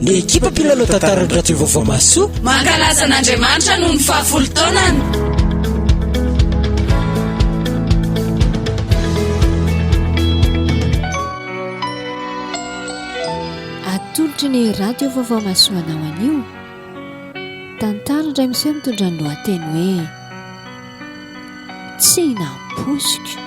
Ny ekipa mpilalao tantaran'ny radio vaovao mahasoa mankalaza an'Andriamanitra noho ny fahafolo taonany. Atolotry ny radio vaovao mahasoa anao anio. Tantara indray miseho mitondra ny lohateny hoe tsy nampoiziko.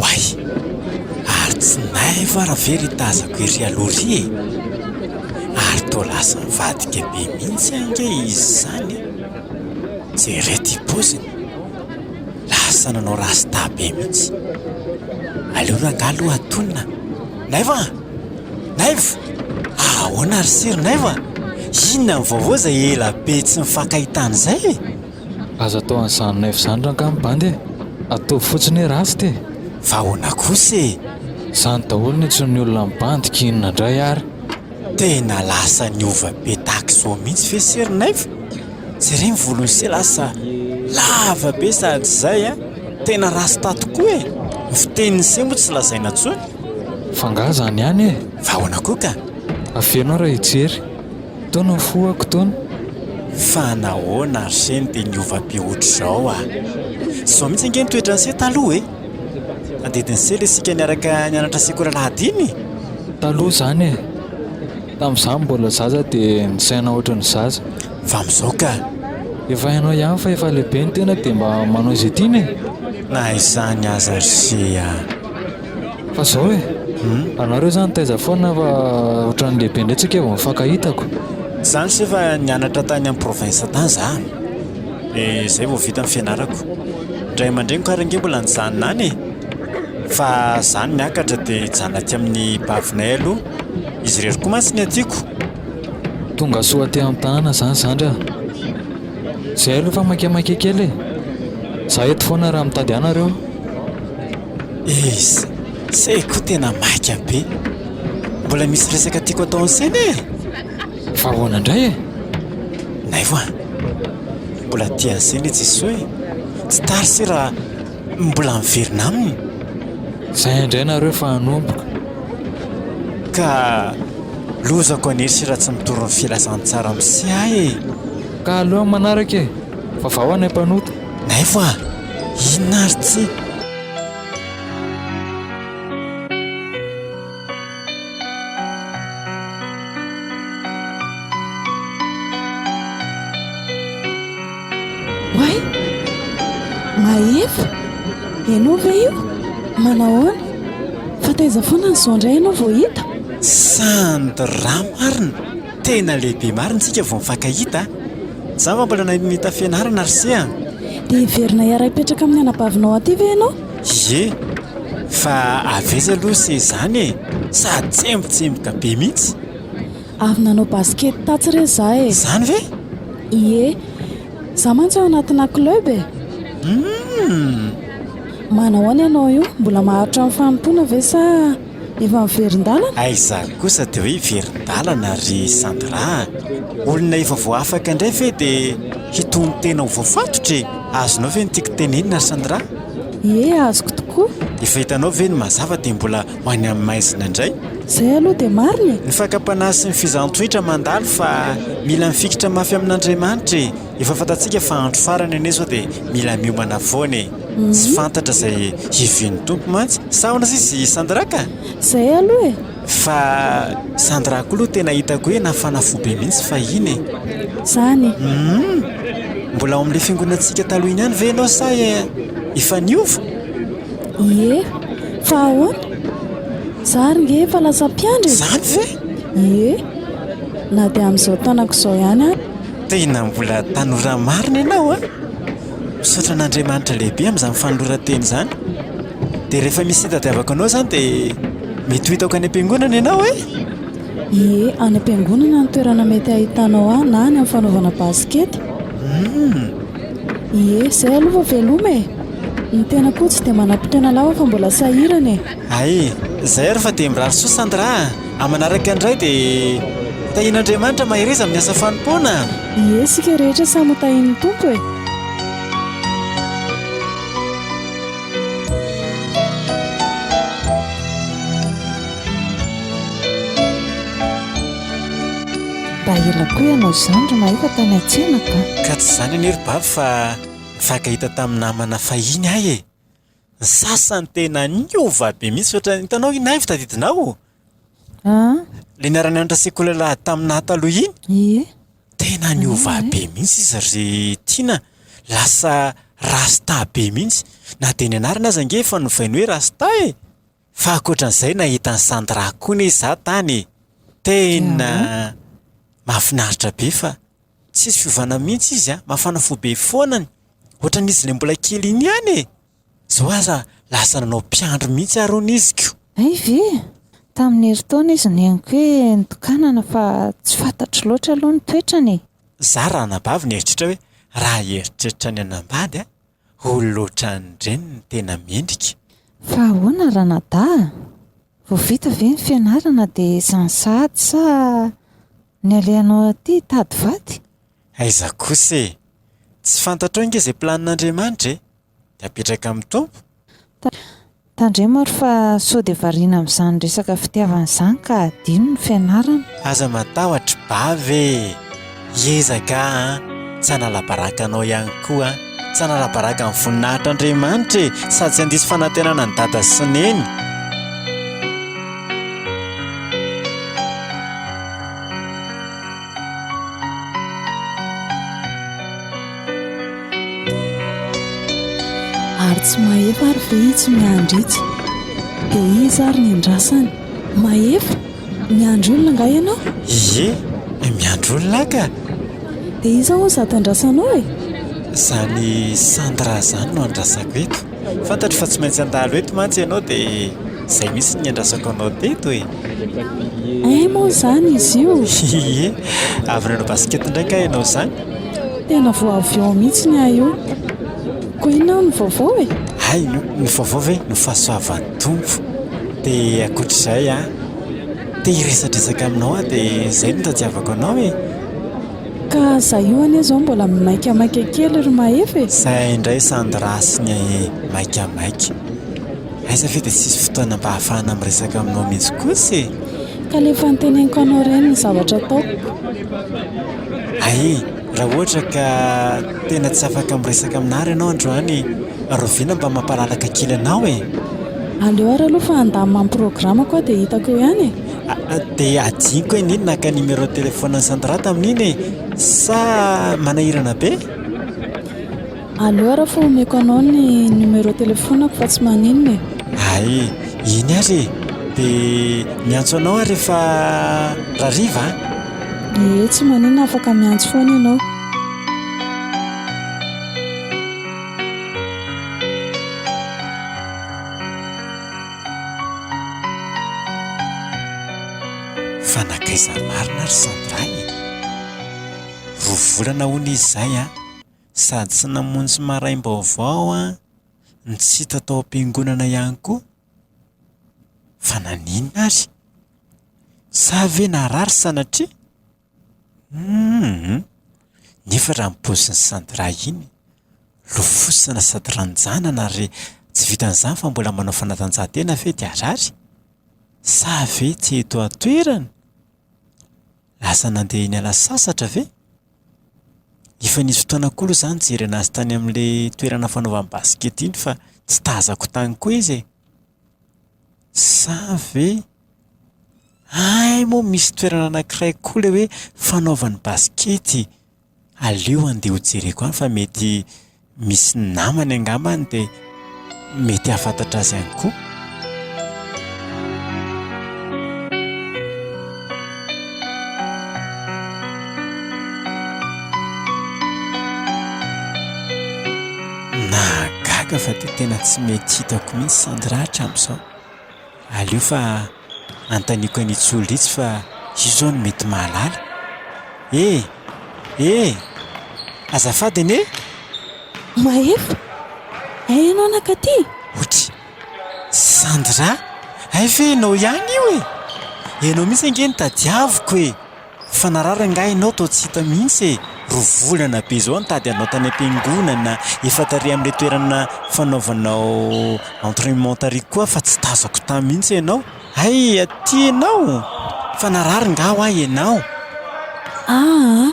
Oay! Ary tsy nay va ra ve ry tazako ery aloha ry e! Ary toa lasa mivadika be mihitsy ange izy izany e! Jereo ty poziny! Lasa nanao rasta be mihitsy! Aleo rangah aloha atonina! Naivo a! Naivo! Ahoana ry sir Naivo a! Inona ny vaovao izay ela be tsy nifankahitana izay e! Aza atao an'izany neuf izany rangahy mibandy e! Ataovy fotsiny hoe ratsy ty e! Fa ahoana kosa e! Zany daholo ny antsoin'ny olona mibandy ka inona indray ary? Tena lasa niova be tahaka izao mihitsy ve sery neuf? Jereo ny volon'i se lasa lava be sady izay a! Tena rasta tokoa e! Ny fitenin'i se moa tsy lazaina intsony. F'angaha izany ihany e! Fa ahoana koa ka? Aveno aho raha hijery. Toa nafohako toa. Fa nahoana ry Seny dia niova be ohatr'izao a! Zao mihitsy ange ny toetran'i Sey taloha e! Tandidin'i Sey ilay isika niaraka nianatra sekoly alahady iny e! Taloha izany e! Tamin'izaho mbola zaza dia nisaina ohatry ny zaza. Fa amin'izao ka! Efa hainao ihany fa efa lehibe ny tena dia mba manao izay tiana e! Na izany aza ry Sey a! Fa zao e! anareo zany taiza foana fa otrany lehibe ndray tsika vao mifankahitako. Tsy zany se fa nianatra tany am province tany za de zay vao vita ny fianarako. Ny ray aman-dreniko ary ange mbola nijanona any e! fa za no miakatra de hijanona aty amin'ny bavinay aloha, izy irery koa mantsy ny atiko. Tongasoa aty am tanana zany zandry a! Zay aloha fa maike maike kely e! za eto foana raha mitady anareo. Eish! Say koa tena maika be. Mbola misy resaka tiako atao an'i Say anie e! Fa ahoana indray e? Naivo a! Mbola tia an'i Say ilay Jesoa e! Tsy tara Say raha mbola miverina aminy. Izay indray nareo efa hanomboka. Ka lozako an'i Hery sy raha tsy mitory ny filazantsara amin'i Say aho e! Ka aleo amin'ny manaraka e! Fa vahao any am-panota. Nefa inona ary tsy. Oay! Mahefa! Ianao ve io? Manahoana? Fa taiza foana ny zao indray ianao vao hita? Sandra marina! Tena lehibe marina isika vao mifankahita a! Za va mbola nahita fianarana ry se an! Dia hiverina hiara hipetraka amin'ny anabavinao aty ve ianao? Ie! Fa avy aiza aloha se izany e! Sady tsembotsemboka be mihitsy! Avy nanao basket tatsy re za e! Izany ve? Ie! Za mantsy ao anatina club e! Hum! Manao ahoana ianao io? Mbola maharitra ny fanompoana ve sa? Efa miverin-dalana? Aiza kosa dia hoe hiverin-dalana ry Sandra a! Olona efa voafaka indray ve dia hitonon-tena ho voafatotra e! Azonao ve ny tiako tenenina ry Sandra? Ie, azoko tokoa! Efa hitanao ve ny mazava dia mbola ho any amin'ny maizina indray? Izay aloha dia marina e! Ny fakam-panahy sy ny fizahantsohitra mandalo fa mila mifikitra mafy amin'Andriamanitra e! Efa fantatsika fa andro farany anie sao dia mila miomana foana e! Tsy fantatra izay hivian'ny Tompo mantsy. Sahona sisa i Sandra ka! Izay aloha e! Fa Sandra koa aloha tena hitako hoe nafana fo be mihitsy fahiny e! Izany e! Humm! Mbola ao amin'ilay fiangonantsika taloha iny ihany ve ianao sa efa niova? Ie! Fa ahoana? Za ary nge efa lasa mpiandry e! Izany ve? Ie! Na dia amin'izao tanako izao ihany ary. Tena mbola tanora marina ianao a! Misaotra an'Andriamanitra lehibe amin'izany fanoloran-teny izany. Dia rehefa misy hitadiavako anao izany dia mety ho hitako any am-piangonana ianao e! Ie, any am-piangonana no toerana mety hahitanao ahy na any amin'ny fanaovana basikety. Hum! Ie, izay aloha vao veloma e! Ny tena koa tsy dia manam-potoana lava fa mbola sahirana e! Hay! Izay ary fa dia mirary soa Sandra a! Amanaraka indray dia tahian'Andriamanitra mahereza amin'ny asa fanompoana. Ie, isika rehetra samy ho tahian'ny Tompo e! Mba ela koa ianao izany ry mahay fa tany an-tsena ka. Ka tsy izany anie ry Bavy fa nifankahita tamin'ny namana fahiny aho e! Ny sasany tena niova be mihitsy ohatra, hitanao iny Ivy tadidinao? An? Ilay niara nianatra sekoly lahady taminà taloha iny? Ie. Tena niova be mihitsy izy ry Tiana. Lasa rasta be mihitsy. Na dia ny anarany aza ange efa novainy hoe rasta e! Fa ankoatran'izay nahita an'i Sandra koa anie za tany tena mahafinaritra be fa tsisy fiovana mihitsy izy a, mafana fo be foana ny ohatran'ny izy ilay mbola kely iny ihany e! Zao aza lasa nanao mpiandry mihitsy ary hono izy ko! Hay ve? Tamin'ny herintaona izy no henoko hoe nitokanana fa tsy fantatro loatra aloha ny toetrany e! Za raha anabavy nieritreritra hoe raha hieritreritra ny hanambady a! Ho lotra any ndreny ny tena mendrika. Fa ahoana ranadahy a! Vao vita ve ny fianarana dia izany sahady sa ny alehanao aty hitady vady? Aiza kosa e! Tsy fantatrao ange izay planin'Andriamanitra e! Dia apetraka amin'ny Tompo? Tandremo ary fa sao dia variana amin'izany resaka fitiavana izany ka adino ny fianarana. Aza matahotra bavy e! Hiezaka aho an! Tsy hanala baraka anao ihany koa aho. Tsy hanala baraka ny voninahitr' Andriamanitra e! Sady tsy handiso fanantenana an'i Dada sy Neny. Ary tsy mahefa ary ve itsy ny andr'itsy? Dia iza ary ny andrasany? Mahefa? Miandry olona angaha ianao? Ie, miandry olona aho ka! Dia iza hono izany tandrasanao e? Izany Sandra izany no andrasako eto. Fantatro fa tsy maintsy handalo eto mantsy ianao dia. Izay mihitsy no niandrasako anao teto e! Hay moa izany izy io! Ie! Avy nanao basket indray kay ianao izany? Tena vao avy ao mihitsy ny ahy io! Koa inona hono ny vaovao e? Hay! Ny vaovao ve? Ny fahasoavan'ny Tompo! Dia ankoatra izay an! Te hiresadresaka aminao aho dia izay no tadiavako anao e! Ka izaho io anie izao mbola maikamaika kely ry Mahefa e! Izay indray Sandra sy ny Maikamaika! Aiza ve dia tsisy fotoana mba hahafahana miresaka aminao mihitsy kosa e! Ka le efa noteneniko anao ireny ny zavatra ataoko. Ahy, raha ohatra ka tena tsy afaka miresaka amin'Ary ianao androany, rahoviana mba mampalalaka kely anao e! Aleo ary aloha fa handamina ny programme-ko aho dia hitako eo ihany e! Ah, dia hadinoko anie ny naka numéro de téléphone an'i Sandra tamin'iny e! Sa manahirana be? Allo ara fa omeko anao ny numéro telefonako fa tsy maninona e. Ay iny ary e! De miantso anao aho rehefa rariva an! Ie tsy maninona afaka miantso foana ianao. Fa nankaiza marina ary Sandra e! Roa volana hono izy zay an! sady tsy namonjy maraim-baovao an, ny tsy hita tao am-piangonana ihany koa. Fa naninona ary? Sa ve narary sanatria? Hum. Nefa raha ny paozin'i Sandra iny, lofosana sady ranjanana ary tsy vitan'izany fa mbola manao fanatanjahantena ve dia harary? Sa ve tsy eto an-toerana? Lasa nandeha niala sasatra ve? Efa nisy fotoana koa aloha za nijery anazy tany amin'ilay toerana fanaovana basikety iny fa tsy tazako tany koa izy e. Sa ve Hay moa misy toerana anakiray koa ilay hoe fanaovana basikety. Aleo handeha ho jereko any fa mety misy namany angamba any dia mety hahafantatra azy ihany koa. Nahagaga fa dia tena tsy mety hitako mihitsy Sandra hatramin'izao. Aleo fa anontaniko an'i Ntsolo itsy fa io zao no mety mahalala e! E! Azafady anie e! Mahefa, hay ianao nankaty? Otry! Sandra, hay ve ianao ihany io e! Ianao mihitsy ange no tadiaviko e! Fa narary angaha ianao toa tsy hita mihitsy e! Roa volana be izao nitady anao tany am-piangonana, efa tary amin'ilay toerana fanaovanao entrainement tary koa aho fa tsy tazako tany mihitsy ianao. Hay aty ianao! Fa narary angaha hoa ianao? Aa!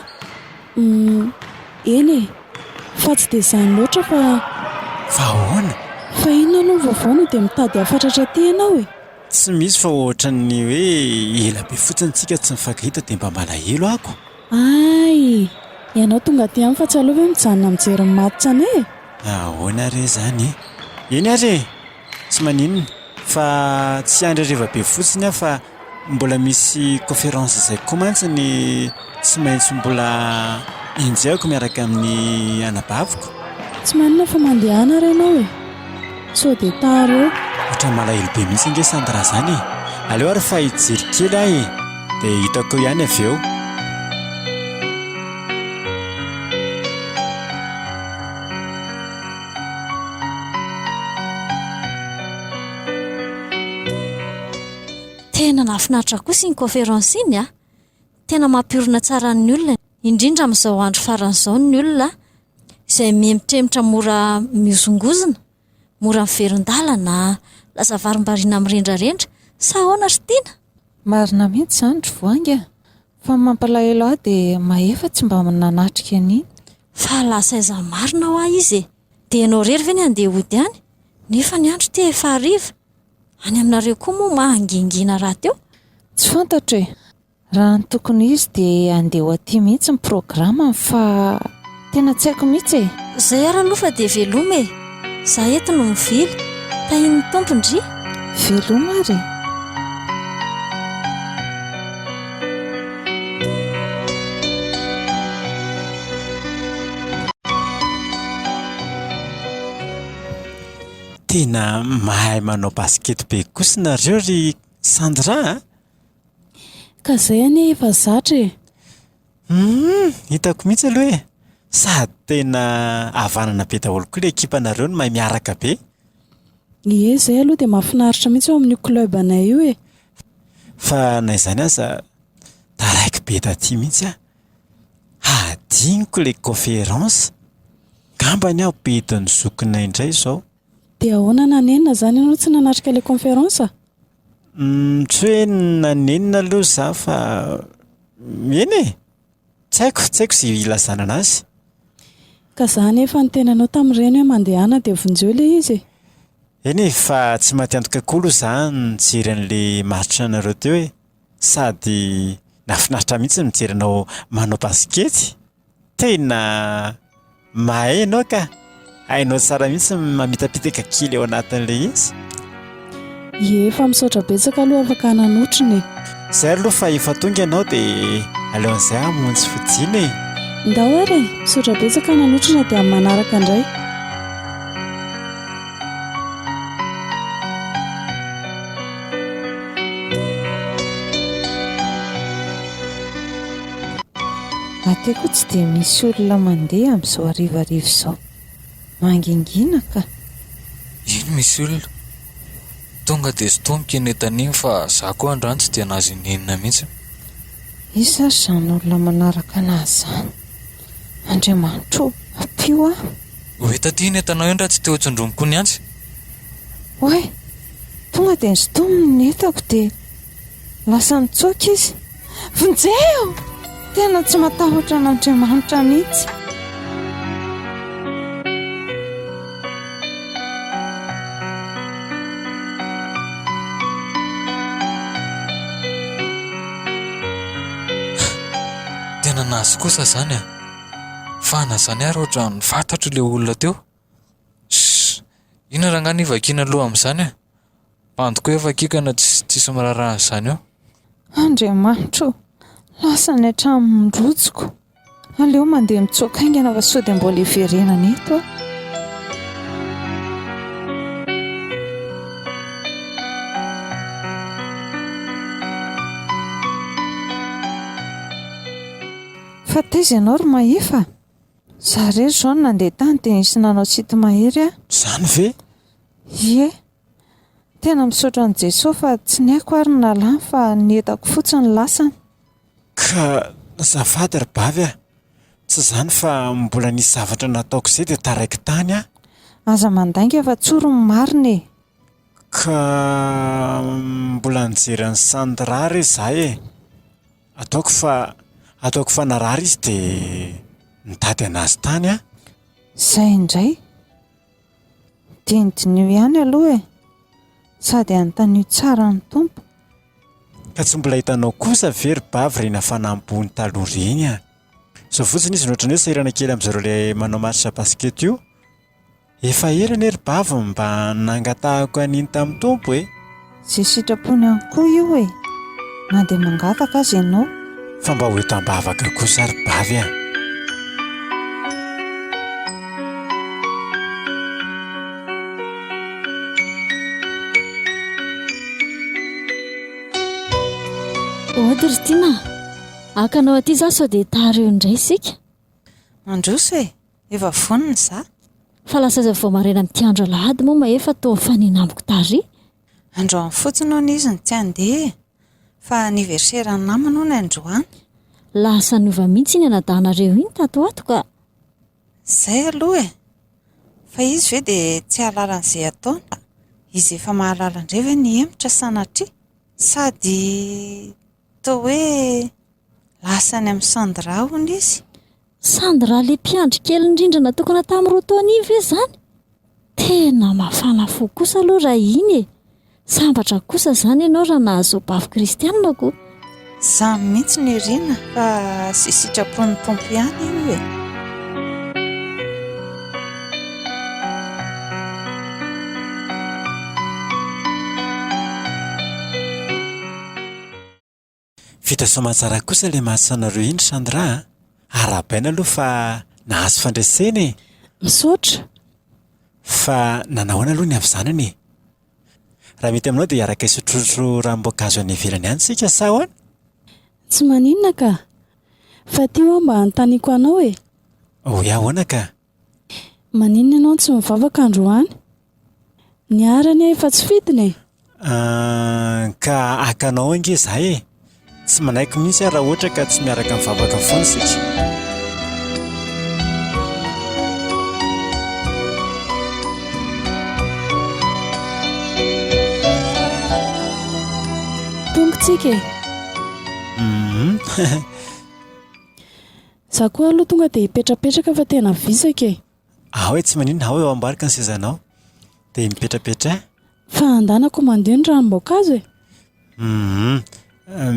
Uhm, eny e! Fa tsy dia izany loatra fa. Fa ahoana? Fa inona aloha ny vaovao na dia mitady hafatratra aty ianao e! Tsy misy fa ohatran'ny hoe ela be fotsiny tsika tsy nifagahita dia mba malahelo ako. Ay! Ianao tonga aty amiko fa tsy aleo ve mijanona mijery ny match anay e? Ahoana ary izany e? Eny ary e! Tsy maninona fa tsy hiandry hariva be fotsiny aho fa mbola misy conférence izay koa mantsy ny. Tsy maintsy mbola enjehiko miaraka amin'ny anabaviko. Tsy manina fa mandehana ary ianao e! Sao dia tara eo. Ohatran'ny malahelo be mihitsy ange Sandra izany e! Aleo ary fa hijery kely aho e! Dia hitako eo ihany avy eo. Tena nahafinaritra kosa iny conférence iny a! Tena mampiorina tsara ny olona, indrindra amin'izao andro farany izao ny olona izay mihemitremitra mora mihozongozona, mora miverin-dalana, lasa varimbariana mirendrarendra, sa ahoana ry Tiana? Marina mihitsy izany ry Voahangy a! Fa ny mampalahelo ahy dia mahefa tsy mba nanatrika an'iny. Fa lasa aiza marina hoa izy e! Dia ianao irery ve ny handeha hody any? Nefa ny andro ity efa hariva. Any aminareo koa moa mahangingina rahateo? Tsy fantatro e! Raha ny tokony ho izy dia handeha ho aty mihitsy ny programme-ny fa tena tsy haiko mihitsy e! Zay ary aloha fa dia veloma e! Za eto no mivily. Tahin'ny Tompo ndry! Veloma ary e! Tena mahay manao basket be kosa nareo ry Sandra a! Ka izay anie efa zatra e! Humm! Hitako mihitsy aloha hoe sady tena havanana be daholo koa ilay ekipanareo no mahay miaraka be. Ie, izay aloha dia mahafinaritra mihitsy ao amin'io club anay io e! Fa na izany aza, taraiky be taty mihitsy aho. Hadinoko ilay conférence. Angamba anie hampidin'ny zokinay indray izao. Dia ahoana nanenina izany ianao tsy nanatrika ilay conférence? Tsy hoe naninona aloha izaho fa eny e! Tsy haiko, tsy haiko izay hilazana anazy. Ka izaho anefa niteny anao tamin'ny reny hoe mandehana dia vonjeo ilay izy e! Eny e, fa tsy maty antoka koa aloha izaho nijery an'ilay maritranareo teo e! Sady nahafinaritra mihitsy ny mijery anao manao basikety! Tena mahay ianao ka! Hainao tsara mihitsy ny mamitapitaka kely ao anatin'ilay izy. Ie, efa misaotra betsaka aloha afaka nanotrona e. Izay aloha fa efa tonga ianao dia aleon'izay hamonjy fodiana e. Ndao ary e, misaotra betsaka nanotrona dia amin'ny manaraka indray. Aty koa tsy dia misy olona mandeha amin'izao harivariva izao. Mangingina ka. Ino misy olona? Tonga dia sintomiko i Netan iny fa za koa androany tsy dia nahazo ininona mihitsy. Iza ary izany olona manaraka anazy izany? Andriamanitro o! Ampio aho! Oe taty i Netanao indry raha tsy te ho tsondromy koa ny antsy. Oay! Tonga dia nisintominy ny entako dia. Lasa nitsoaka izy. Vonjeo! Tena tsy matahotra an'Andriamanitra mihitsy. Tena nahazo kosa izany an! Fahana izany ary ohatran'ny fantatro ilay olona teo. Ss! Inona rangahy no ivakiana loha amin'izany a! Bandy koa efa hakikana tsisy miraharaha an'izany eo. Andriamanitro ô! Lasa any an-tranon'ny rojoko. Aleo mandeha mitsoaka haingana fa sao dia mbola hiverenana eto aho. Fa taiza ianao ry Mahefa a! Za rery izao no nandeha tany dia nisy nanao site mahery aho. Zany ve? Ie. Tena misaotra an'i Jesoa fa tsy ny aiko ary no nalany fa ny entako fotsiny no lasany. Ka azafady ry bavy a! Tsy izany fa mbola nisy zavatra nataoko izay dia taraiky tany aho. Aza mandainga fa tsory ny marina e! Ka mbola nijery an'i Sandra re za e! Ataoko fa, ataoko fa narary izy dia nitady an'azy tany aho. Izay indray. Dinidiniho ihany aloha e! Sady anontanio tsara ny Tompo. Ka tsy mbola hitanao kosa ve ry Bavy ireny hafanam-bony taloha ireny an! Izao fotsiny izy nohatran'ny hoe sahirana kely amin'izareo ilay manao match basket io. Efa ela anie ry bavy mba nangatahako an'iny tamin'ny Tompo e! Izay sitrapony ihany koa io e! Na dia mangataka aza ianao. Fa mba ho eto am-bavaka kosa ry bavy a! Ody ry Tiana a! Haka anao aty izaho sao dia tara eo indray isika. Mandroso e! Efa vonona za. Fa lasa aza vao maraina amin'ity andro alahady moa ma efa toa mifanena amiko tary. Androany fotsiny hono izy no tsy handeha e! Fa anniversaire-n'ny namany hono androany. Lasa niova mihitsy iny anadahinareo iny tato ato ka! Izay aloha e! Fa izy ve dia tsy hahalala an'izay ataony? Izy efa mahalala indray ve ny hemotra sanatria? Sady. Toa hoe lasa any amin'i Sandra hono izy. Sandra ilay mpiandry kely indrindra natokana tamin'ny roa taona iny ve izany? Tena mafana fo kosa aloha raha iny e! Sambatra kosa izany ianao raha nahazoa bafy kristianina ko! Za mihitsy no irina fa sy sitrapon'ny Tompo ihany io e. Vita soamantsara kosa ilay mahasoanareo iny Sandra a! Arahabaina aloha fa nahazo fandresena e! Misaotra! Fa nanao ahoana aloha ny havizanana e? Raha mety aminao dia hiaraka hisotrosotro ranom-boankazo any ivelany any isika sa ahoana? Tsy maninona ka! Fa ity ho'a mba anontaniako anao e! Hoe ahoana ka! Maninona ianao no tsy mivavaka androany? Ny Ary anie efa tsy fidiny e! Ahh, ka haka anao ange izaho e! Tsy manaiky mihitsy aho raha ohatra ka tsy miaraka mivavaka foana isika. Tongotsika e! Hum. Za koa aloha tonga dia hipetrapetraka fa tena visaka e! Ao e tsy maninona, ao eo ambarika ny sezanao dia mipetrapetraha. Fa andanako mandeha ny ranom-boankazo e! Hum,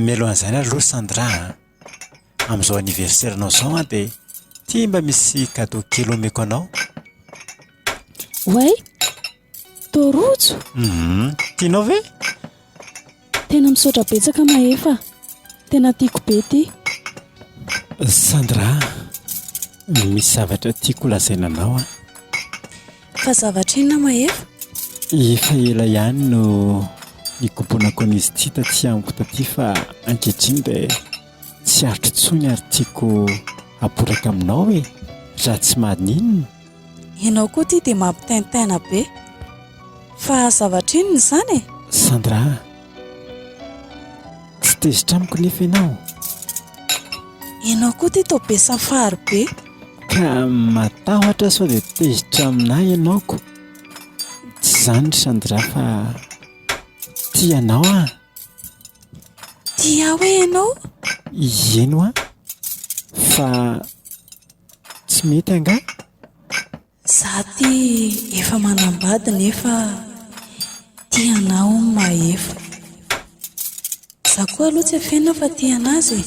mialohan'izany aloha Sandra a! Amin'izao anniversaire nao izao an dia ity mba misy cadeau kely omeko anao. Oay! Toa rojo? Hum, tianao ve? Tena misaotra betsaka Mahefa, tena tiako be ity. Sandra, misy zavatra tiako holazaina anao an. Fa zavatra inona Mahefa? Efa ela ihany no nikombonako an'izy ity taty amiko taty fa ankehitriny dia tsy aritro intsony ary tiako haporaka aminao e, raha tsy maninona. Ianao koa ity dia mampitaintaina be. Fa zavatra inona izany e? Sandra a! Tsy tezitra amiko nefa ianao. Ianao koa ity toa be safary be. Ka matahotra sao dia tezitra aminà ianao ko. Tsy izany ry Sandra fa tia anao aho. Tia ahy hoe ianao? Ieno aho fa Tsy mety angaha? Za ty efa manambady nefa tia anah hono mahefa. Za koa aloha tsy afenina fa tia anazy e.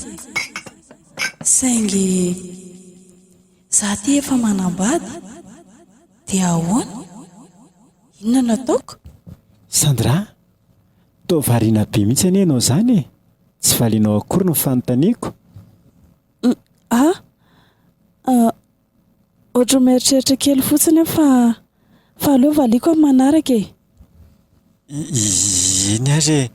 Saingy za ty efa manambady dia ahoana? Inona no ataoko? Sandra a! Toa variana be mihitsy anie ianao izany e! Tsy valianao akory ny fanontaniako? A, ah, ohatran'ny mieritreritra kely fotsiny aho fa, fa aleo valiako amin'ny manaraka e! Iiiii eny ary e!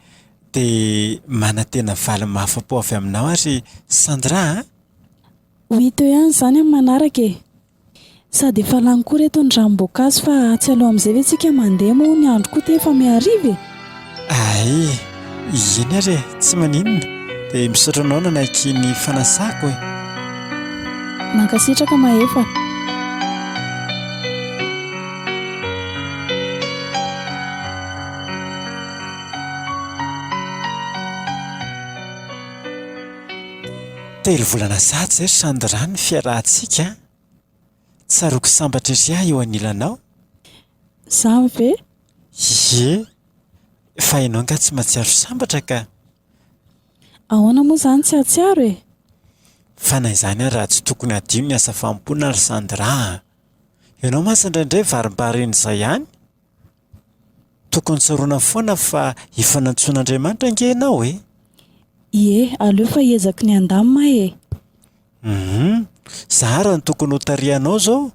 Dia manantena valy mahafa-po avy aminao ary Sandra a! Ho hita eo ihany izany amin'ny manaraka e! Sady efa lany koa reto ny ranom-boankazo fa atsy aloha amin'izay ve tsika mandeha moa ny andro koa ty efa mihariva e! Ae! Eny ary e! Tsy maninona dia misaotra anao nanaiky ny fanasako e! Mankasitraka Mahefa a! Telo vola lasa aza ry Sandra ny fiarahantsika an! Tsaroako sambatra ery aho eo anilanao. Izaho ve? Ie! Fa ianao angaha tsy mahatsiaro sambatra ka! Ahoana moa izany tsy hahatsiaro e? Fa na izany ary raha tsy tokony hadio ny asa fanompoana ry Sandra an! Ianao mantsy indraindray varimbary eny izay ihany? Tokony tsaroana foana fa hifanantsoin'Andriamanitra ange ianao e! Ie, aleo fa hiezaky ny handamina aho e! Humm! Za ary no tokony hotarihanao izao?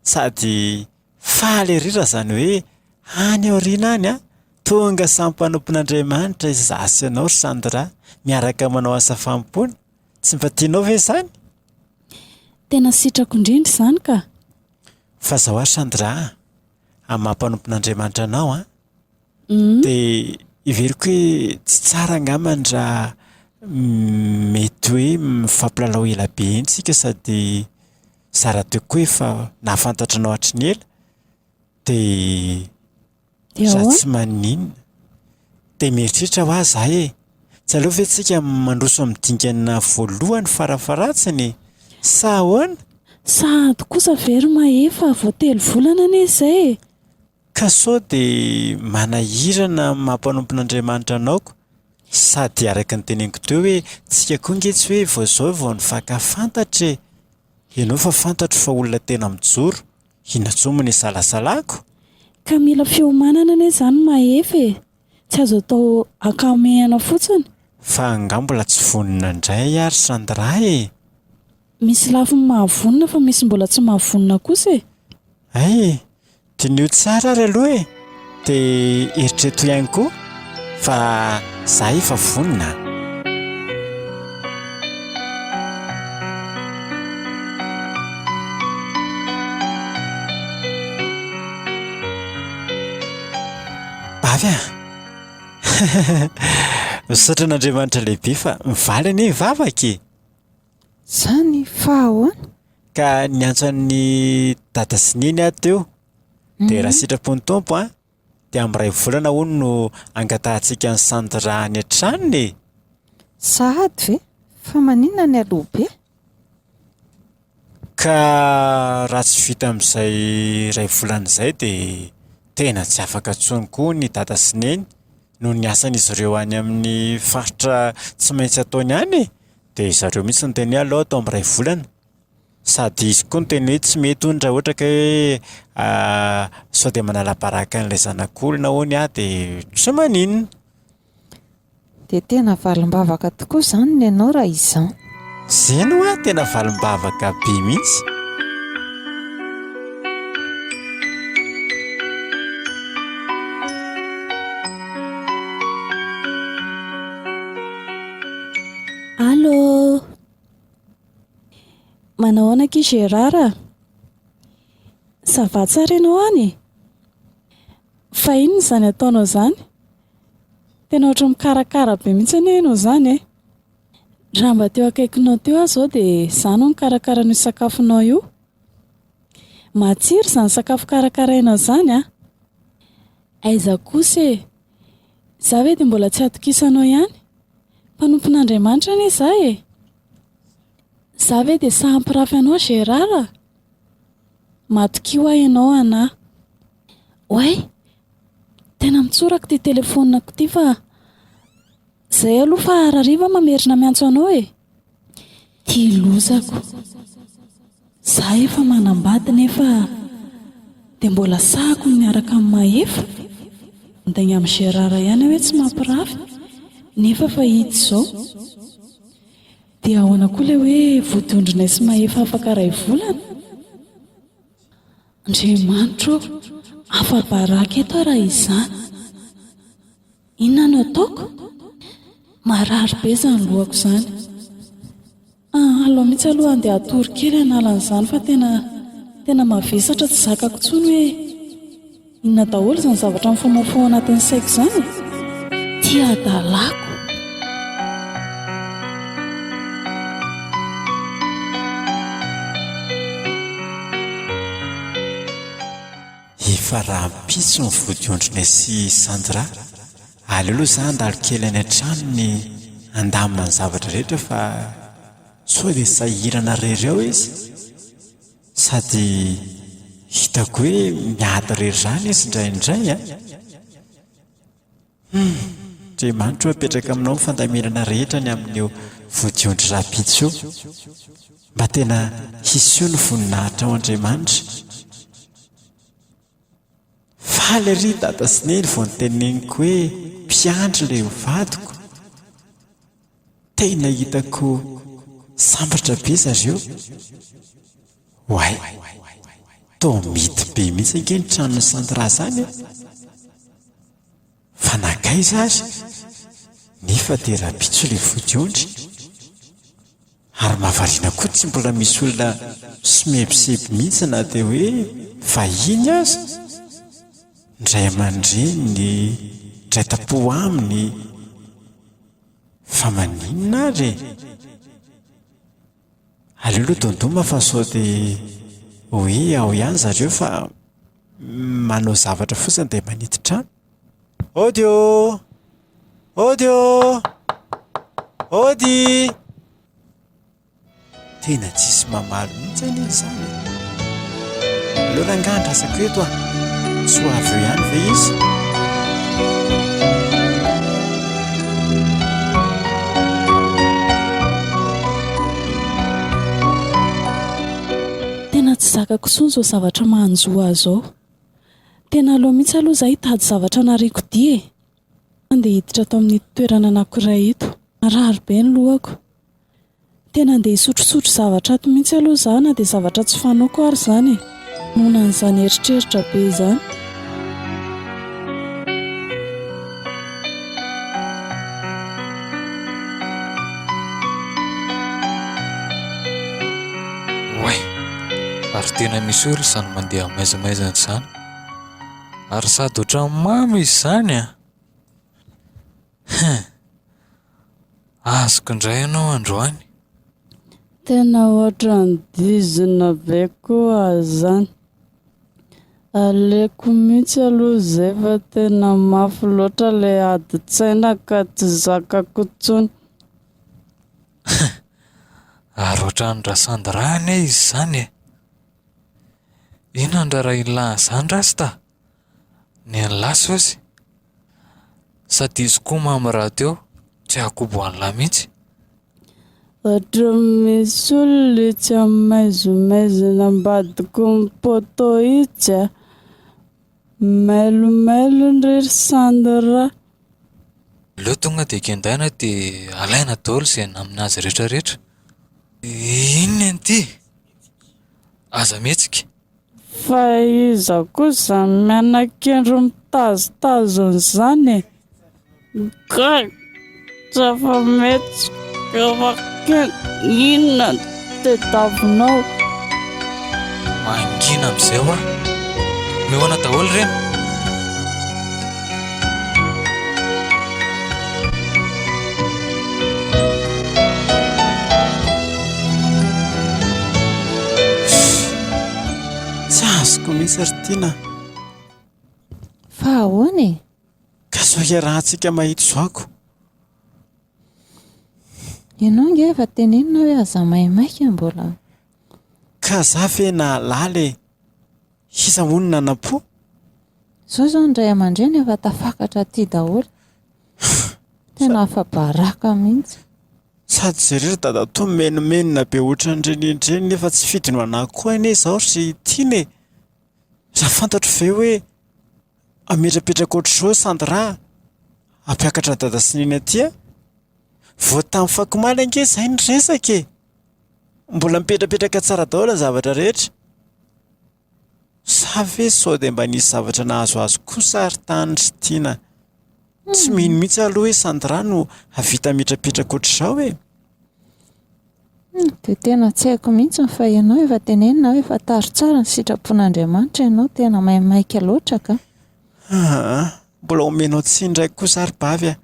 Sady faly ery raha izany hoe any aoriana any an! Tonga samy mpanompon'Andriamanitra izaho sy ianao ry Sandra, miaraka manao asa fanompoana. Tsy mba tianao ve izany? Tena sitrako indrindra izany ka! Fa izao ary Sandra a! amin'ny maha mpanompon'Andriamanitra anao an, dia heveriko hoe tsy tsara angambany raha mety hoe mifampilalao ela be iny tsika sady zara-teo koa efa nahafantatra anao hatry ny ela dia izaho tsy maninona. Dia mieritreritra hoa izaho hoe Tsy aleo ve tsika mandroso amin'ny dingana voalohany farafaharatsiny e? Sa ahoana? Sahady kosa ve ry Mahefa vao telo volana anie izay e! Ka sao dia manahirana amin'ny maha mpanompon'Andriamanitra anao ko! Sady araka ny teneniko teo hoe tsika koa nge tsy hoe vao izao vao nifaka fantatra e! Ianao fa fantatro fa olona tena mijoro, inona tsoa moa ny isalasalako? Ka mila fiomanana anie izany Mahefa e! Tsy azo atao ankamehana fotsiny. Fa angaha mbola tsy vonona indray ary Sandra e! Misy lafiny mahavonona fa misy mbola tsy mahavonona kosa e! Hay e! Diniho tsara ary aloha e! Dia eritreto ihany koa fa za efa vonona a! Avy an! Misaotra an'Andriamanitra lehibe fa mivaly anie ny vavaka e! Izany fa ahoana? Ka niantso an'i Dada sy Neny aho teo. Dia raha sitrapon'ny Tompo an, dia amin'ny iray volana hono no hangatahantsika an'i Sandra any an-tranony e! Sahady ve? Fa maninona ny aloha be? Ka raha tsy vita amin'izay iray volana izay dia tena tsy afaka intsony koa hono i Dada sy Neny noho ny asan'izy ireo any amin'ny faritra tsy maintsy ataony any e! Dia zareo mihitsy no niteny hoe aleo atao amin'ny iray volana. Sady izy koa niteny hoe tsy mety hono raha ohatra ka hoe sao dia manala baraka an'ilay zanak'olona hono aho dia tsy maninona. Dia tena valim-bavaka tokoa izany ny anao raha izao. Zeny hoa tena valim-bavaka be mihitsy. Allô! Manao ahoana akia Gérard a? Ça va tsara ianao any e? Fa inona izany ataonao izany? Tena ohatran'ny mikarakara be mihitsy anie ianao izany e! Raha mba teo akaikinao teo aho izao dia za no nikarakara an'io sakafonao io. Matsiro izany sakafo karakarainao izany an! Aiza kosa e! Za ve dia mbola tsy hatokisanao ihany? Mpanompon'Andriamanitra anie za e! Za ve dia sahy hampirafy anao Gérard? Matokio aho ianao anà. Oay! Tena mitsoraka ity telefonako ity fa Zay aloha fa harariva aho mamerina miantso anao e! Ty lozako! Za efa manambady nefa dia mbola sahako ny miaraka amin'i Mahefa? Mindainga amin'i Gérard ihany aho hoe tsy mampirafy nefa efa hita izao! Dia ahoana koa ilay hoe vodondronay sy Mahefa afaka iray volana? Andriamanitro ô! Afa-baraka eto aho raha izany. Inona no ataoko? Marary be izany lohako izany. Ah, aleo mihitsy aloha handeha hatory kely hanala an'izany fa tena, tena mavesatra tsy zakako intsony hoe inona daholo izany zavatra mifomofoha ao anatin'ny saiko izany e! Tia adalako. Efa rahampitso ny vodiondrona sy i Sandra. Aleo aloha za handalo kely any an-tranony handamina ny zavatra rehetra fa sao dia sahirana rery ao izy. Sady hitako hoe miady rery izany izy indraindray an! Hum! Andriamanitro apetraka aminao ny fandaminana rehetra ny amin'io vodiondry rahampitso io. Mba tena hiseho ny voninahitrao Andriamanitra. Faly ery dada sy neny vao noteneniko hoe mpiandry ilay vadiko. Tena hitako sambatra be zareo. Oay. Toa mety be mihitsy ange ny tranon'i Sandra zany e. Fa nankaiza ary? Nefa dia rahampitso le vodiondry. Ary mahavariana koa tsy mbola misy olona somebiseby mihitsy na dia hoe vahiny aza. Ny ray aman-dreniny, dray tampo aminy. Fa maninona ary e? Aleo aloha dondoma fa sao dia ho hoe ao ihany zareo fa manao zavatra fotsiny dia manidy trano. Audio! Audio! Audii! Tena tsisy mamaly mihitsy anie izany e! Aleo rangahy andrasako eto an! Tsy ho avy eo ihany ve izy? Tena tsy zakako intsony izao zavatra manjo ahy izao. Tena aleo mihitsy aloha izaho hitady zavatra anariako dia e! Handeha hiditra ato amin'ito toerana anankiray ito. Marary be ny lohako. Tena handeha hisotrosotro zavatra ato mihitsy aloha izaho na dia zavatra tsy fanaoko ary izany e. Noana an'izany eritreritra be izany. Oay! Ary tena misy olona izany mandeha maizamaizana izany. Ary sady ohatran'ny mamy izy izany an! Hein! Azoko indray ianao androany. Tena ohatran'ny dizina be koa izany. Aleoko mihitsy aloha izay fa tena mafy loatra ilay adin-tsaina ka tsy zakako intsony. Ary ohatran'ny rasandy ra anie izy izany e! Inona ny raharaha ilan'izany rasta? Ny an'i lahy sôsy? Sady izy koa mamy raha teo, tsy hahakobo an'i lahy mihitsy. Ohatran'ny misy olona etsy amin'ny maizimaizina ambadiky ny poteau itsy a. Mailomailony re ry Sandra. Aleo tonga dia kendaina dia alaina daholo izay namin'azy rehetrarehetra. Inona an'ity? Aza mihetsika. Fa iza koa izany mianakendry mitazotazona izany e? Gag, tsy afa-mihetsika Ramakena, inona no tadiavinao? Mangina amin'izay hoa. Mihaona daholo ireny. Tsy azoko mihitsy ry Tiana a! Fa ahoana e? Ka sao hiarahantsika mahita zoako? Ianao ange efa tenenina hoe aza maimaika mbola. Ka za ve nahalala e? Iza hono nanam-po? Zao zao ny ray aman-dreny efa tafakatra aty daholo. Tena afa-baraka mihitsy. Sady jereo ry dadatoa menomenona be otran'ireny indreny nefa tsy fidy no anahako koa anie izaho ry tiana e! Raha fantatro ve hoe hametrapetraka ohatr'izao Sandra a! Hampiakatra dada sy neny aty a! Vao tamin'ny fako omaly ange izay ny resaka e! Mbola mipetrapetraka tsara daholo ny zavatra rehetra? Sa ve sao dia mba nisy zavatra nahazoazo kosa ry Tany ry Tiana? Tsy mino mihitsy aho aloha hoe Sandra no hahavita mihitrapetraka ohatr'izao e! Dia tena tsy haiko mihitsy fa ianao efa tenenina hoe fantaro tsara ny sitrapon'Andriamanitra ianao, tena maimaika loatra kah! Haa, mbola omenao tsiny indray kosa ary Bavy a!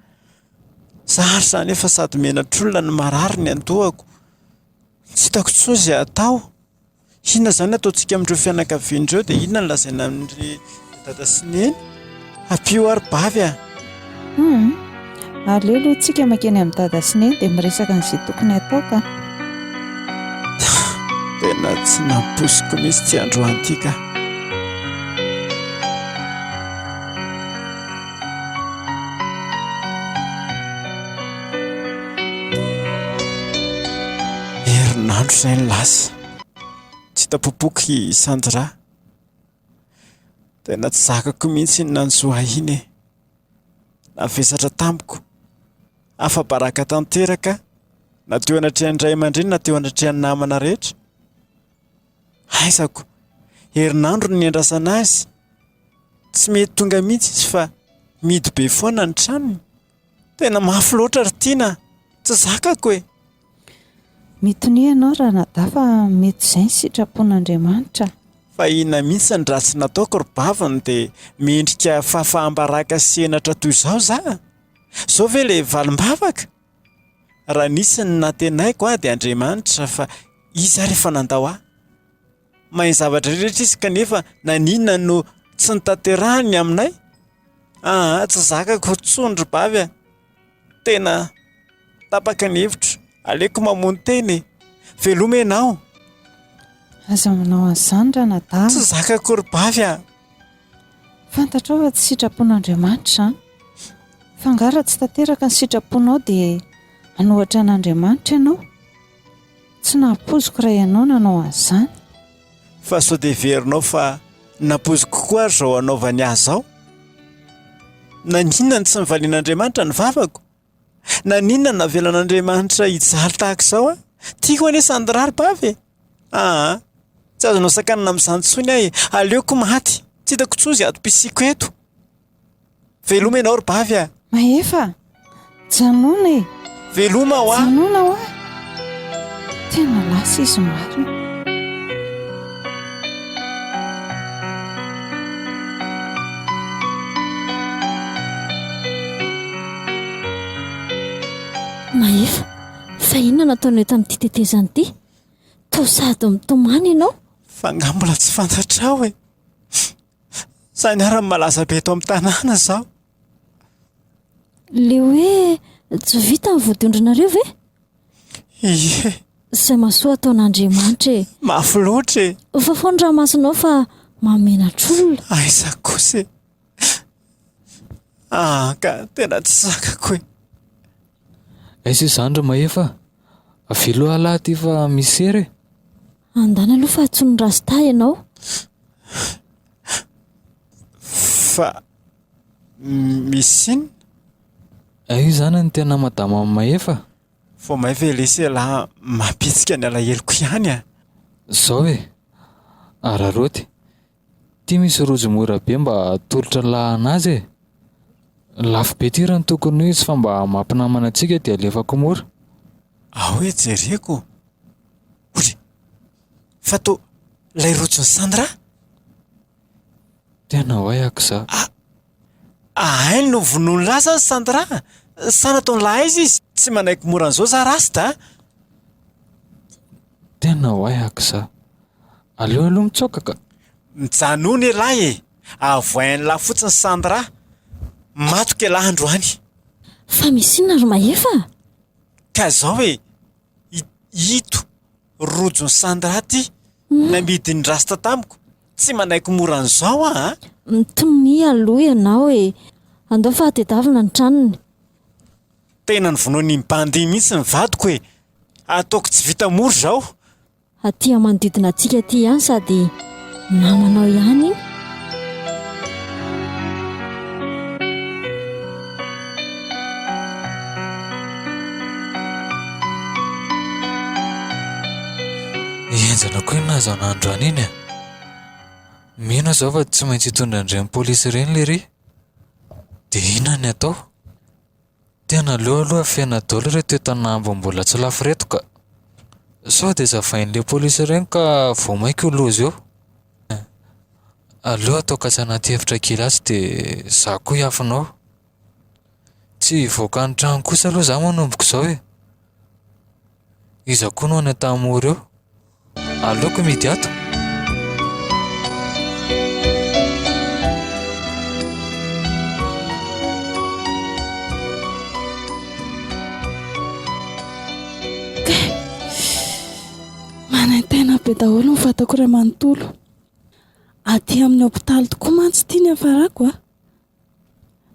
Zary zany efa sady menatr'olona no marary ny andohako. Tsy hitako intsony izay atao. Inona izany no ataontsika amin'ireo fianakaviana ireo dia inona no lazaina amin'ireo dada sy neny? Ampio aho ry bavy a! Hum! Aleo aloha tsika makeny amin'i dada sy neny dia miresaka an'izay tokony hatao ka! Tena tsy nampoiziko mihitsy ity androany ity ka! Herinandro izay no lasa, tsy hita popoky i Sandra. Tena tsy zakako mihitsy iny nanjo ahy iny e! Navesatra tamiko, afa-baraka tanteraka na teo anatrehan'ny ray aman-dreny na teo anatrehan'ny namana rehetra. Haizako, herinandro no niandrasana azy. Tsy mety tonga mihitsy izy fa mihidy be foana ny tranony. Tena mafy loatra ry Tiana a! Tsy zakako e! Mitonia ianao Ranadahy fa mety izay ny sitrapon'Andriamanitra. Fa inona mihitsy ny ratsy nataoko ry baviny dia mendrika fafaham-baraka sy henatra toy izao za? Izao ve ilay valim-bavaka? Raha nisy ny nantenaiko ahy dia Andriamanitra fa Izy ary efa nandao ahy. Mahay ny zavatra rehetra Izy kanefa naninona no tsy notanterahiny ny aminay? Aa tsy zakako intsony ry Bavy a! Tena tapaka ny hevitro, aleoko mamono tena e! Veloma ianao! Aza manao an'izany ranadahy a! Tsy zakako ry Bavy a! Fantatrao fa tsy sitrapon'Andriamanitra izany? Fa angaha raha tsy tanteraka ny sitraponao dia hanohatra an'Andriamanitra ianao? Tsy nampoiziko raha ianao nanao an'izany. Fa sao dia heverinao fa nampoiziko koa ary izao hanaovany ahy izao? Naninona no tsy nivalian'Andriamanitra ny vavako? Naninona no navelan'Andriamanitra hijaly tahaka izao a! Tiako anie sandry raribavy e! aa! Tsy azonao sakanana amin'izany intsony aho e! Aleoko maty! Tsy hitako intsony izay atom-pisiako eto! Veloma ianao ry bavy a! Mahefa a! Janona e! Veloma hoa! Janona hoa! Tena lasa izy marina. Mahefa, fa inona no ataonao eto amin'ity tetezana ity? Toa sady mitomany ianao. Fa angaha mbola tsy fantatrao e! Izaho ianarany malaza be eto amin'ny tanàna izao. Ilay hoe tsy vita ny voadondronareo ve? Ie. Izay mahasoa ataon'Andriamanitra e. Mafy loatra e. Ofa foana ramasinao fa mahamenatra olona. Aiza kosa e. Ah ka tena tsy zakako e. Aiza izany ry Mahefa a. Avelo ialahy aty fa miser e. Andany aloha fa antsoin'i Rasta ianao. Fa Misy siny? Hay izany no tena madama Mahefa? Vao may ve lesy ialahy mampihetsika ny alaheloko ihany a! Izao e! Araraoty, ity misy rojo mora be mba atolotry ny lahy an'azy e! Lafo be ity raha ny tokony ho izy fa mba mampinamana antsika dia alefako mora. Ahoy jereko? Ory! Fa toa ilay rojon'i Sandra? Tena ho hay aky za. Ah! Ahainy no vonoiny ra zany Sandra a! Sa nataony lahaiza izy? Tsy manaiky mora an'izao za Rasta a! Tena ho hay aky za. Aleo aloha mitsoaka ka! Mijanòa anie lahy e! Avoahin'lah fotsiny Sandra! Matoky elah androany! Fa misy inona ry Mahefa a? Ka izao e! Ito! Rojo ny Sandra ty namidy ny rasta tamiko, tsy manaiky mora an'izao aho an! Mitomia aloha ianao e! Andao fa hatedavina ny tranony. Tena novonoin'iny bandy iny mihitsy ny vadiko e! Ataoko tsy vita mora izao. Aty amanodidina antsika aty ihany sady. namanao ihany enjana koa inona zao nandro an'iny e mino zao fa tsy maintsy hitondra an'ireny polisy ireny lery dia inona ny atao Tena aleo aloha afena daholo ireto entana ambiny mbola tsy lafo ireto ka! Sao dia zavain'ny le polisy ireny ka vao mainka ho loza eo. Aleo atao kasa anaty efitra kely atsy dia za koa hiafina ao. Tsy hivoaka ny trano kosa aloha za manomboko izao e. Iza koa no any an-tanimora eo? Aleoko mihidy ato. Manaintaina be daholo ny vatako iray manontolo. Aty amin'ny hopitaly tokoa mantsy ity ny hiafarako a!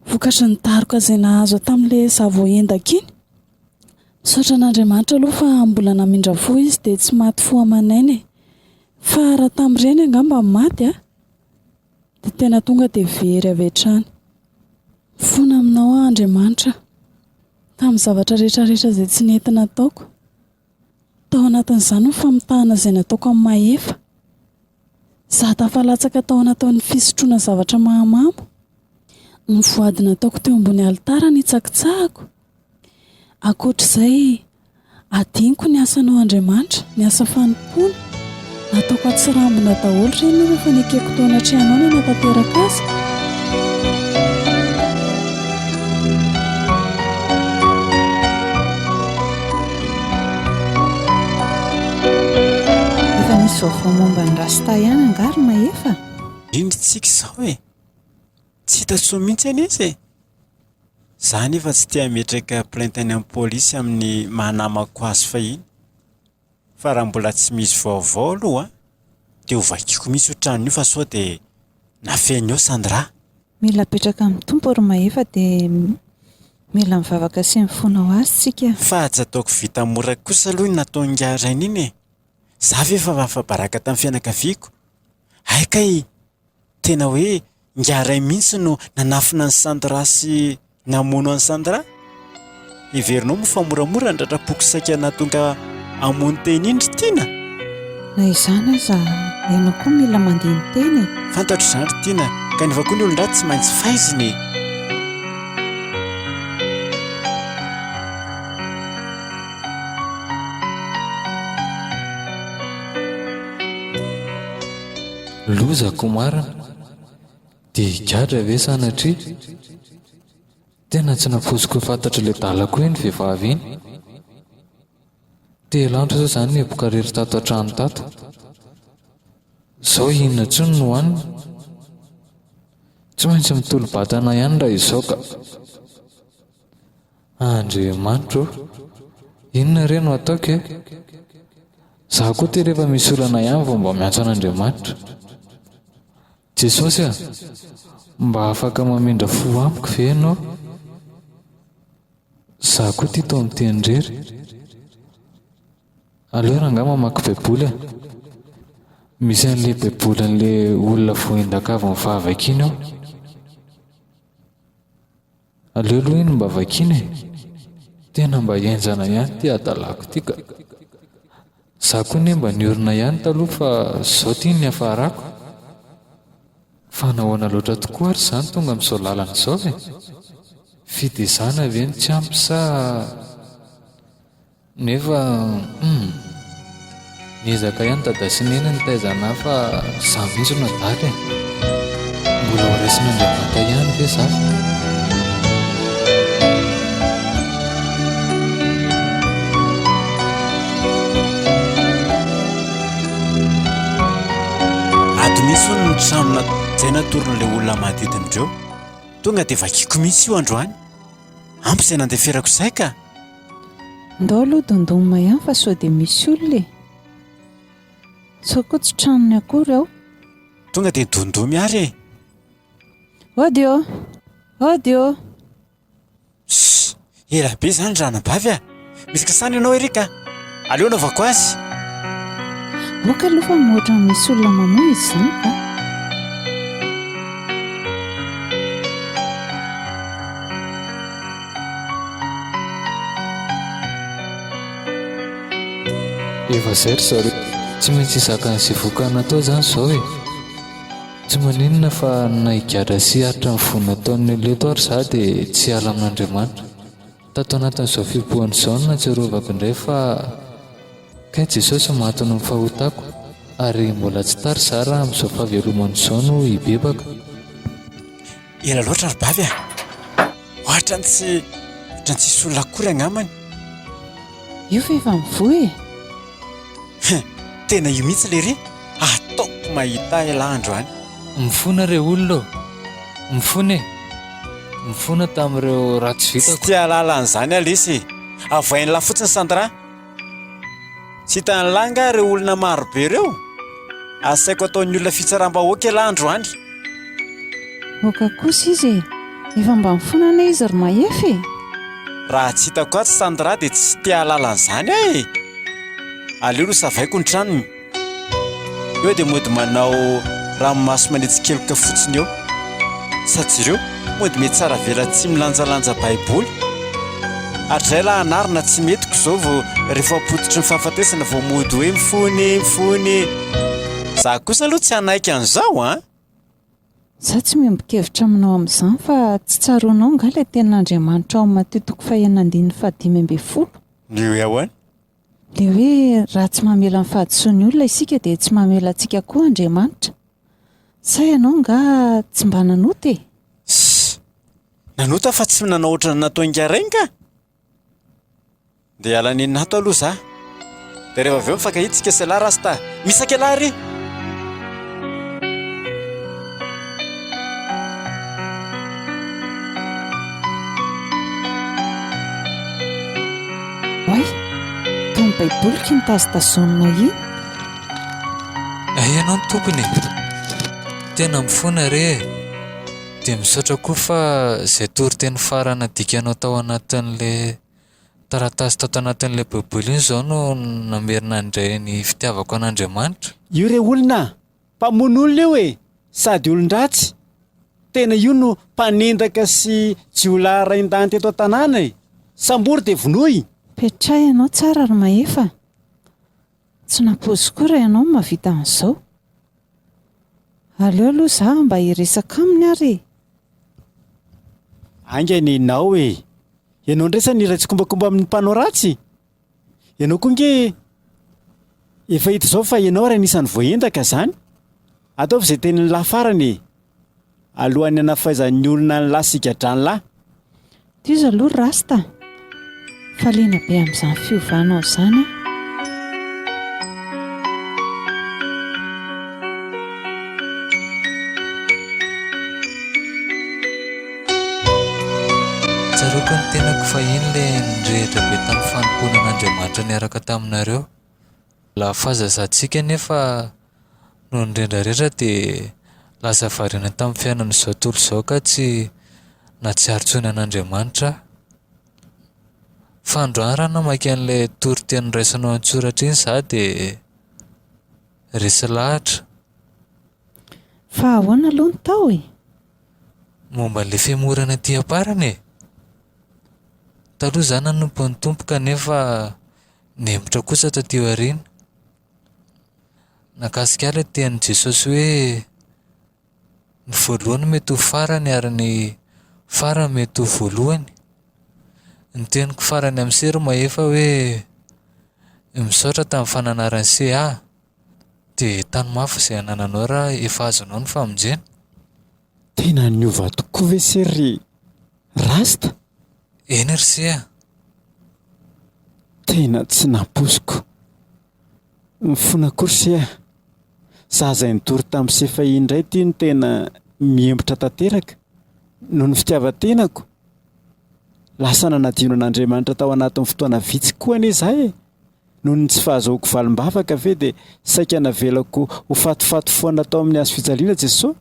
Vokatry ny daroka izay nahazo ahy tamin'ilay izaho vao hendak iny. Misaotra an'Andriamanitra aloha fa mbola namindra fo izy dia tsy maty fo aman'aina e! Fa raha tamin'ireny angamba maty aho dia tena tonga dia very avy hatrany. Mifona aminao aho Andriamanitra tamin'ny zavatra rehetra rehetra izay tsy nety nataoko. Tao anatin'izany ny famitahana izay nataoko amin'i Mahefa. Izaho tafalatsaka tao anatin'ny fisotroana zavatra mahamamo. Ny voady nataoko teo ambony alitara no hitsakitsahako. Ankoatra izay, hadinoko ny asanao Andriamanitra, ny asa fanompoana. Ataoko atsirambina daholo ireny aloha fa nekeko taona hatrehana no hanatanteraka azy. Efa misy vaovao momba ny rasta ihany angaha ry Mahefa? Eny ry tsiky izao e! Tsy hita soa mihitsy anie izy e! Za anefa tsy te hametraka plainte any amin'ny polisy amin'ny maha namako azy fahiny. Fa raha mbola tsy misy vaovao aloha dia ho vakiako mihitsy io tranony io fa sao dia nafehy ny eo Sandra a! Mila apetraka amin'ny Tompo ry Mahefa dia mila mivavaka sy mifona ho Azy tsika. Fa tsy ataoko vita mora kosa aloha iny nataon'ingahy Rainy iny e! Za ve efa afa-baraka tamin'ny fianakaviako? Hay kay! Tena hoe Ingahiray mihitsy no nanafina an'i Sandra sy namono an'i Sandra? Heverinao moa fa moramora ny ratra-poko saika nahatonga hamono tena iny ry Tiana? Na izany aza, ianao koa mila mandeha ny tena e! Fantatro izany ry Tiana, kanefa koa ny olon-dratsy tsy maintsy faizina e! Loza ko marina, dia higadra ve sanatria? Tena tsy nafoiziko hoe fantatry ilay dala koa iny vehivavy iny. Telo andro zao zany nihiboka rery tato an-trano tato. Zao inona tsony no hohanina? Tsy maintsy mitolo-batana ihany raha izao ka. Andriamanitra ô! Inona re no ataoko e? Za koa ty rehefa misy olana ihany vao mba miantso an'Andriamanitra. Jesosy a! Mba afaka mamindra fo amiko ve ianao? Za koa ty toa miteny irery. Aleo rangah mamaky baiboly a! Misy an'ilay baiboly an'ilay olona voaendaka avy nifavy akiny ao. Aleo aloha iny mba vakiana e! Tena mba henjana ihany ity hadalàko ity ka! Za koa anie mba niorina ihany taloha fa zao ity ny niafarako! Fa nahoana loatra tokoa ary izany tonga amin'izao lalana izao e! Fitezàna ve no tsy ampy sa Nefa humm. Miezaka ihany Dada sy Neny nitaiza anah fa za mihitsy no adala e. Mbola ho raisin'Andriamanta ihany ve za fa. Ato mihitsy hono ny trano nataiza natoron'ilay olona manodidina ireo. Tonga dia vakiako mihitsy io androany. Ampy izay nandeferako izay ka. Ndao aloha dondoma ihany fa sao dia misy olona e! Sao koa tsy tranony akory ao. Tonga dia dondomy ary e! Ody ô! Ody ô! Shh! Ela be izany ranabavy a! Misy kasana ianao Eric a! Aleo anaovako azy. Boka aloha fa mihoatra ny misy olona mamoa izy izany ka. Efa izay ry zareo. Tsy maintsy hizaka an'izay voka natao izany izao e. Tsy maninona fa na higadra sy hiaritra ny voa nataon'ny olona eto ary za dia tsy hiala amin'Andriamanitra. Tato anatin'izao fihibohana izao no nahatsiarovako indray fa kay Jesosy maty noho ny fahotako ary mbola tsy tara izaho raha amin'izao fahavelomany izao no hibebaka. Ela loatra ry Bavy a! Ohatran'ny tsy, ohatran'ny tsisy olona akory angambany. Io ve efa mivoha e? Hein, tena io mihitsy lery ataoko mahita elah androany. Mifona re olona ô! Mifona e! Mifona tamin'ireo ratsy vitako. Tsy te hahalala an'izany aho lesy e! Avoahin'lah fotsiny Sandra! Tsy hitan'lah angaha ireo olona marobe ireo? Asaiko ataon'ny olona fitsaram-bahoaka elah androany. Aoka kosa izy e! Efa mba mifona anie izy ry Mahefa e! Raha tsy hitako atsy Sandra dia tsy te hahalala an'izany aho e! Aleo aloha savaiko ny tranony. Eo dia mody manao ranomaso manetsi-keloka fotsiny eo. Sa jereo! Mody mety tsara vela tsy milanjalanja baiboly ary izay lahy anarina tsy metiko izao vao rehefa ampototry ny fahafatesana vao mody hoe mifony mifony za kosa aloha tsy hanaiky an'izao an Izaho tsy miombon-kevitra aminao amin'izany fa tsy tsaroanao angaha ilay tenin'Andriamanitra ao amin'ny Matio toko fahenina andininy fahadimy ambin'ny folo? Ny hoe ahoana? Dia hoe raha tsy mamela ny fahadisoan'ny olona isika dia tsy mamela antsika koa Andriamanitra. Sa ianao angaha tsy mba nanota e? Sss! Nanota fa tsy nanao ohatran'ny nataon'i Ingaregny ka! Dia hiala an'i Nato aloha za. Dia rehefa avy eo mifankahita isika sy elah Rasta. Misy akelah re? Oay, toa ny baiboliko iny tazotazonina iny. Hay ianao ny tompony e! Tena mifona re e! Dia misaotra koa fa izay toriteny farany nadikanao tao anatin'ilay taratasy tao tanatin'ilay baiboly iny izao no namerina handray ny fitiavako an'Andriamanitra. Io re olona Mpamono olona io e! Sady olon-dratsy! Tena io no mpanendaka sy jiolahy rain-dany teto an-tanàna e! Sambory dia vonoy! Petrahy ianao tsara ry Mahefa a! Tsy nampoiziko koa raha ianao no mahavita an'izao. Aleo aloha izaho mba hiresaka aminy ary e! Haingana ianao e! Ianao indray sa ny iray tsikombakomba amin'ny mpanao ratsy? Ianao koa nge efa hita izao fa ianao ary anisan'ny voaendaka izany. Ataovy izay tenin'ny lahy farany e! Alohan'ny hanafaizan'ny olona ny lahy sigadran'lahy. Tohizo aloha ry rasta a! Fa liana be amin'izany fiovanao izany aho. Tsaroako ny tenako fahiny ilay nirehitra be tamin'ny fanompoana an'Andriamanitra niaraka taminareo. Lany fahazazatsika anefa noho ny rendrarendra dia lasa variana tamin'ny fiainan'izao tontolo izao ka tsy nahatsiaro intsony an'Andriamanitra aho. Fa androany raha namaky an'ilay toriteny noraisinao an-tsoratra iny izaho dia resy lahatra. Fa ahoana aloha ny tao e? Momba an'ilay fihemorana aty am-parany e, taloha izaho nanompo an'ny Tompo kanefa nihemotra kosa taty aoriana. Nahakasika ahy ilay tenin'i Jesosy hoe ny voalohany mety ho farany ary ny farany mety ho voalohany. Ny teniko farany amin'ny sery mahefa hoe misaotra tamin'ny fananaran'i Se ahy. Dia tano mafy izay anananao raha efa azonao ny famonjena. Tena niova tokoa ve se ry Rasta? Eny ry se a! Tena tsy nampoiziko. Mifona koa ry se a! Za izay nitory tamin'i se fahiny indray ity no tena mihembotra tanteraka noho ny fitiavan-tenako. Lasa nanadino an'Andriamanitra tao anatin'ny fotoana vitsy koa anie za e! Noho ny tsy fahazoako valim-bavaka ve dia saika navelako ho fatifaty foana tao amin'ny hazofijaliana Jesoa?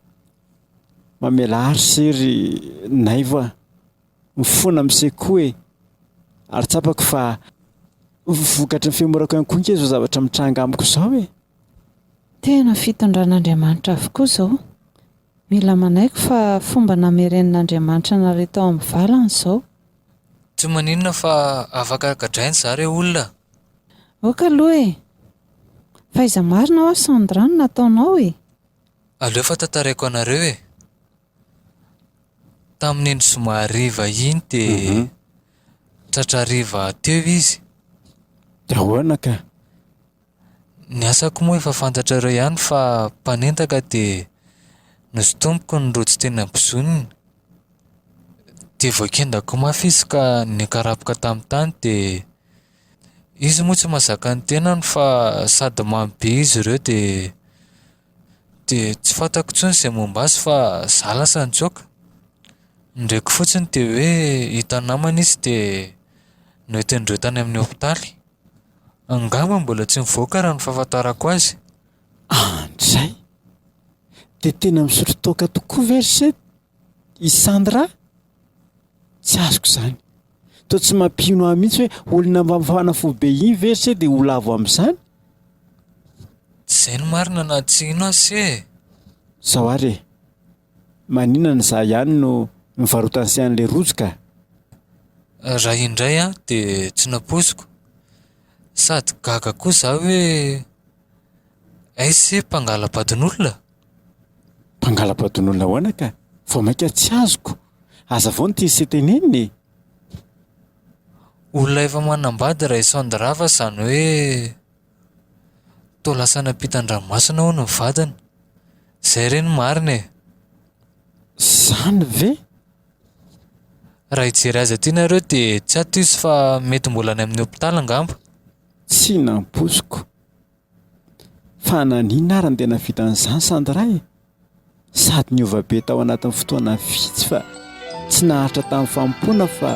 Mamelà ry se ry Naivo a! Mifona mise koa e! Ary tsapako fa vokatry ny fihomorako ihany koa ange izao zavatra mitranga amiko izao e! Tena fitondran'Andriamanitra avokoa izao. Mila manaiky fa fomba namerenin'Andriamanitra anareo tao amin'ny valany izao. Tsy maninona fa afaka gadraina za re olona a! Ok aloha e! Fa iza marina hoa Sandra no nataonao e? Aleo fa tantaraiko anareo e! Tamin'iny zoma hariva iny dia tratra hariva teo izy. Dia ahoana ka? Ny asako moa efa fantatrareo ihany fa mpanendaka dia nosintomiko ny rojo teny am-bozoniny. Dia voakendako mafy izy ka nikarapoka tamin'ny tany dia izy moa tsy mahazaka ny tenany fa sady mamy be izy ireo dia dia tsy fantako intsony izay momba azy fa za lasa nitsoaka. Ny reko fotsiny dia hoe hita namana izy dia noentin'ireo tany amin'ny hopitaly. Angamba mbola tsy nivoaka raha ny fahafantarako azy. Antsay! Dia tena misotro toaka tokoa ve ry se i Sandra? Tsy azoko izany. Toa tsy mampino ahy mihitsy hoe olona mba mifana fo be iny ve ry se dia ho lavo amin'izany? Tsy izay no marina na tsy hino aho se e! Sao ary e! Maninona za ihany no mivarotany se anle rojo ka. Raha indray aho dia tsy nampoiziko sady gaga koa za hoe aiz se mpangala-badin'olona? Mpangala-badin'olona ahoana ka? Vao mainka tsy azoko. Aza vao ny tian'se tenenina e! Olona efa manambady Raisoandirava zany hoe. Toa lasa nampita an-dranomasina hono ny vadiny. Izay re no marina e! Izany ve? Raha hijery azy aty nareo dia tsy ato izy fa mety mbola any amin'ny hopitaly angamba. Tsy nampoiziko. Fa naninona ary no tena vitan'izany Sandra e? sady niova be tao anatin'ny fotoana vitsy fa tsy naharitra tamin'ny fanompoana fa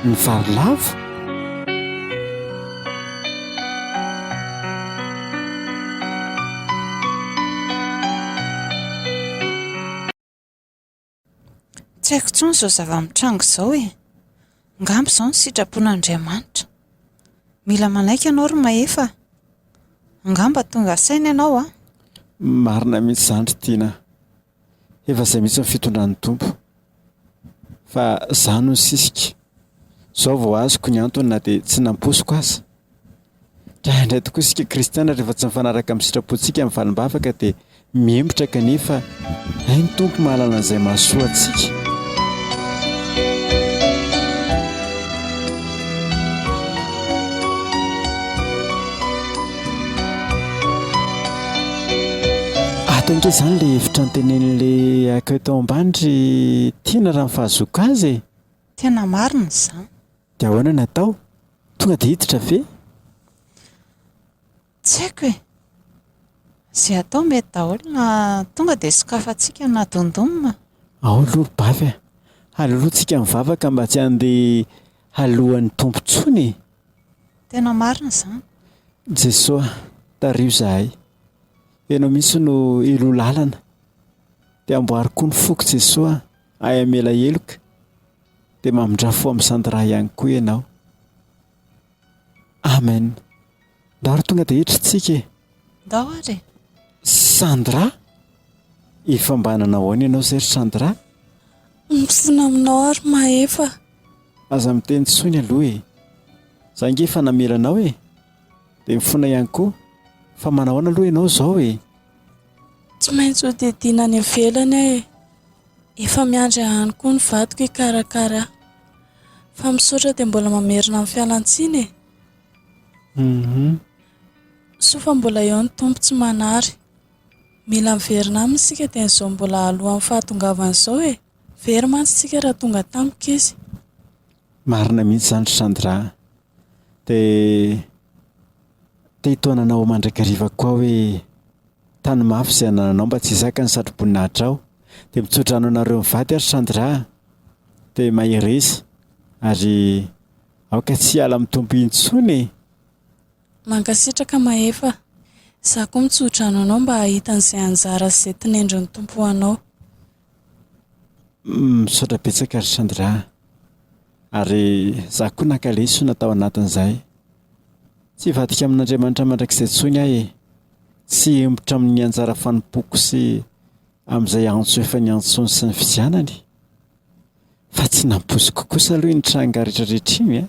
ny vary lavo. Tsy haiko intsony izao zava-mitranga izao e. Angamba izao ny sitrapon'Andriamanitra. Mila manaiky ianao ry Mahefa. Angamba tonga saina ianao an. Marina mihitsy izany ry Tiana. Efa izay mihitsy ny fitondran'ny Tompo. Fa izaho no nisisika. Izao vao azoko ny antony na dia tsy nampoiziko aza. Draindray tokoa isika kristiana rehefa tsy mifanaraka amin'ny sitrapontsika ny valim-bavaka dia mihemotra kanefa hay ny Tompo mahalala an'izay mahasoa antsika. Ato ange izany ilay hevitra antenenin'ilay accueil tao ambany ry Tiana raha mifahazoako azy e. Tena marina izany. Dia ahoana no atao? Tonga dia hiditra ve? Tsy haiko e! Izay atao mety daholo na tonga dia sokafantsika na dondom. Ao aloha bavy a! Halolointsika ny vavaka mba tsy handeha haloan'ny Tompo intsony e! Tena marina izany. Jeso a! Tariho izahay. Ianao mihitsy no Heloa lalana. Dia amboary koa ny foko Jeso a! Ahy hamela heloka. Dia mamindra fo amin'ny sandra ihany koa ianao. Amen. Ndao ary tonga dia hiditra isika e. Ndao ary e. Sandra? Efa mba nanao ahoana ianao izay ry Sandra? Mifoana aminao aho ry Mahefa. Aza miteny intsony aloha e. Za ange efa namela anao e. Dia mifoana ihany koa. Fa manao ahoana aloha ianao izao e? Tsy maintsy hodidina any ivelany aho e. Efa miandry ahy any koa ny vadiko hikarakara ahy. Fa misaotra dia mbola mamerina ny fialantsiny e! Soa fa mbola eo ny Tompo tsy manary. Mila miverina aminy isika dia izao mbola alohan'ny fahatongavany izao e! Very mantsy isika raha tonga tampoka izy. Marina mihitsy izany ry Sandra a! Dia te hitaona anao mandrakariva koa aho hoe tany mafy izay anananao mba tsy hisaka ny satroboninahitra aho. Dia mitso-drano anareo mivady ary Sandra a! Dia mahereza ary aoka tsy hiala amin'ny Tompo intsony e! Mankasitraka Mahefa. Izaho koa mitso-drano anao mba hahita an'izay anjara sy izay tinendrin'ny Tompo ho anao. Misaotra betsaka ry Sandra. Ary izaho koa naka lesona tao anatin'izay. Tsy hivadika amin'Andriamanitra mandrakizay intsony aho e. Tsy hihemotra amin'ny anjara fanompoako sy amin'izay antso efa niantsoany sy nividianany. Fa tsy nampoiziko kosa aloha iny tranga rehetra rehetra iny an!